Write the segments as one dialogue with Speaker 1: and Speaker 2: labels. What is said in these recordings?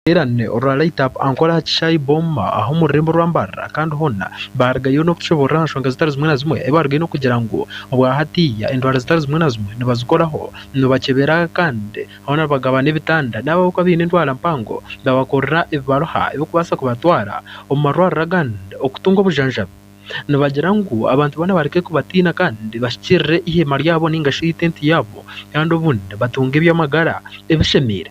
Speaker 1: Omuteerane orwa Light Up ankora aha kishaayi Booma aha omu rurembo rwa Mbarara kandi hoona baarugayo n'okutushoboorora aha nshonga zitari zimwe na zimwe ei baarugayo n'okugira ngu obwa hatiiya endwara zitari zimwe na zimwe nibazikoraho, nibakyebera kandi hoona nibagaba n'ebitanda n'abo abarikuba baine endwara mpango babakorera ebibaroha ebirikubaasa kubatwara omu marwariro agandi okutunga obujanjabi. Nibagira ngu abantu boona bareke kubatiina kandi bahikirire eiheema ryabo nainga shi itenti yaabo kandi obundi batunge eby'amagara ebishemeire.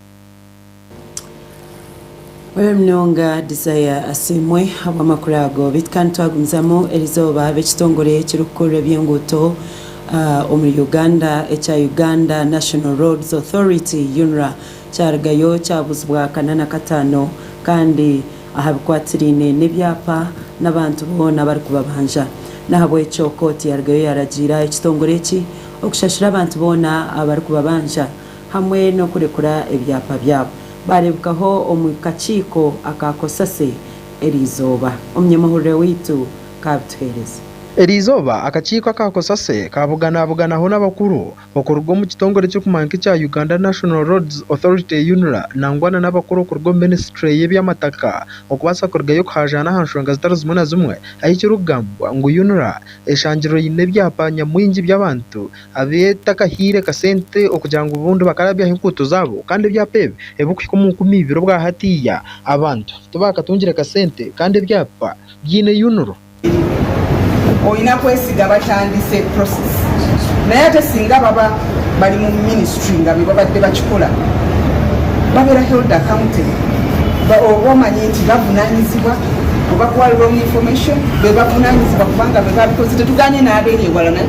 Speaker 2: Oyo munonga Desire asiimwe ahabw'amakuru ago beitu kandi twagumizamu erizooba ab'ekitongore ekirikukurura eby'enguuto ah, omuri Uganda ekya Uganda National Roads Authority UNRA kyarugayo kyabuuzibwa kanana kataano kandi ahabikwatiraine n'ebyapa n'abantu boona abarikubabanja nahabwekyo kooti yarugayo yaragiira ekitongore eki okushashura abantu boona abarikubabanja hamwe n'okurekura ebyapa byabo baareebekaho omu kakiiko aka cosase eri izooba. Omunyamahurire waitu kaabituheereze. Eri izooba
Speaker 1: akakiiko aka cosase kaabuganabuganaho n'abakuru okuruga omu kitongore ekirikumanywa nk'ekya Uganda National Roads Authority, UNRA, nangwa na n'abakuru okuruga omu minisitule y'eby'amataka okubaasa kurugayo kuhaajaana aha nshonga zitari zimwe na zimwe ahu ekirikugambwa ngu UNRA eshangirwe eine ebyapa nyamwingi by'abantu abeetakahaire kasente okugira ngu obundi bakarabyaho enkuuto zaabo kandi ebyapa ebi ebirikuhika omu nkumi ibiri obwa hatiiya abantu tibaakatungire kasente kandi ebyapa biine yunuro.
Speaker 3: Oine akwesiga abatandise process naye ate singa baba bari mu ministry nga be babadde bakikora babeera held accounted oba omanye nti bavunanyizibwa oba kuba wrong information bebavunanyizibwa kubanga be babikozire tugambye n'aberi ewala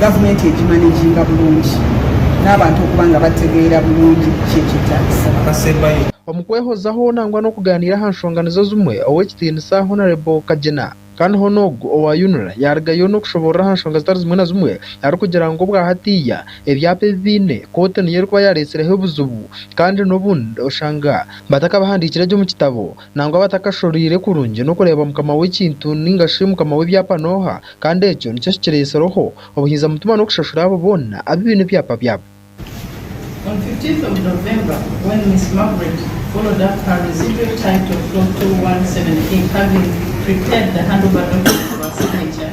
Speaker 3: Gavumenti egi maneginga burungi n'abantu okuba nga bategeera burungi ki ekyetaagisa. Omu
Speaker 1: kwehozaho nangwa n'okugaaniira aha nshonga nizo zimwe, Ow'ekitiinisa Honarebo Kagyena kandi hoona ogu owa UNRA yaarugayo n'okushoboorora aha nshonga zitari zimwe na zimwe arikugira ngu obwa hatiiya ebyapa ebi baine kooti niyo erikuba yaareetsireho obuzibu kandi n'obundi oshanga batakabahandiikire gye omu kitabo Nangwa batakashoreire kurungi n'okureeba mukama w'ekintu nainga shi mukama w'ebyapa n'oha, kandi ekyo nikyo kikireetsireho obuhinza mutima n'okushashura abo boona abu baine ebyapa byabo.
Speaker 4: On 15th of November when Miss Margaret followed up her residual title 4217 A having prepared the handover documents for her signature,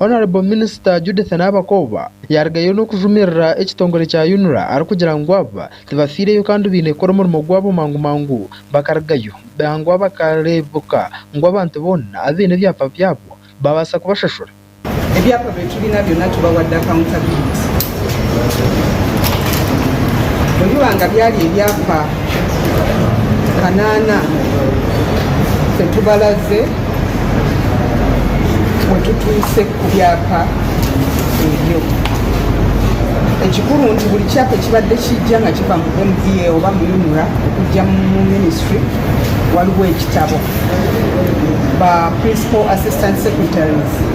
Speaker 1: Honourable Minister Judith Nabakooba yarugayo n'okujumirira ekitongore kya UNRA arikugira ngu aba tibafiireyo kandi baine kukora omurimo gwabo mangu mangu bakarugayo nangwa bakareebuka ngu abantu boona abaine ebyapa byabo baabaasa kubashashura ebyapa
Speaker 3: by'ekibiina byona tubawadde accountability. Ebibanga byali ebyapa kanaana itwe tubaraze itwe tutuuse ku byapa ebyo. Ekikuru nti buri kyapa ekibadde kiija nga kiva mu MVA oba mu UNRA okujja mu minisitule waliwo ekitabo, ba Principal Assistant Secretaries.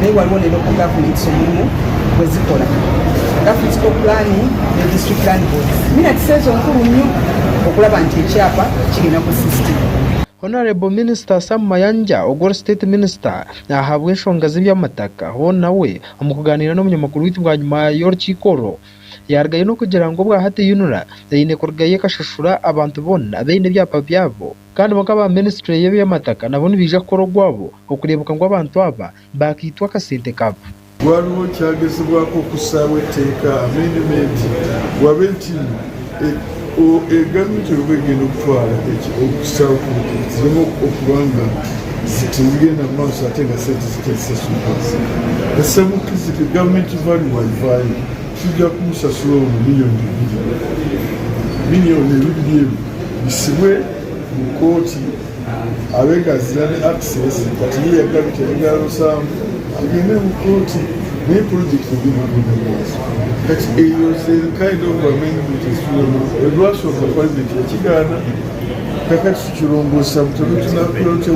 Speaker 3: Naye wariwo oreba oku governments omurimo gwezikora, governments co planning ne district land boards minats ezo nkuru nyo okuraba nti ekyapa kigenda ku system. Honourable
Speaker 1: Minister Sam Mayanja ogwori State Minister ahabw'enshonga z'eby'amataka hoona nawe omukugaaniira n'obunyamakuru bwaitu bwanyima y'orukiiko orwo yarugayo n'okugira ngu obwa hati UNRA eine kurugayo ekashashura abantu boona abaine ebyapa byabo Kandi bonka aba ministry y'ebyamataka nabo nibaija kukora ogwabo okureebeka ngu abantu aba baakaitwa akasente kabo. Waariho
Speaker 5: kyagezibwako kussaaho eteeka, amendment, ngu ab'entindo egaru ntoirwe egende kutwara eki okussaaho kuruke zireme okuba nga zitizigenda mu maaso ate nga sente zitarisasurwa. Ensemo kizibwe, government value, waivaayo. Tuja kumusasura omu miliyoni ibiri. Miliyoni ebiri ebi bisibwe mu kooti abe gazira ne Access kati ye yagarukire engaro nsango agende mu kooti naye project egende omu mumaiso. Kati eyo ozeri kind of bamenye omuntu ezitwiremu ebibashoboka president yakigaana kakati tukirongosesa buta oba tunakora tuta.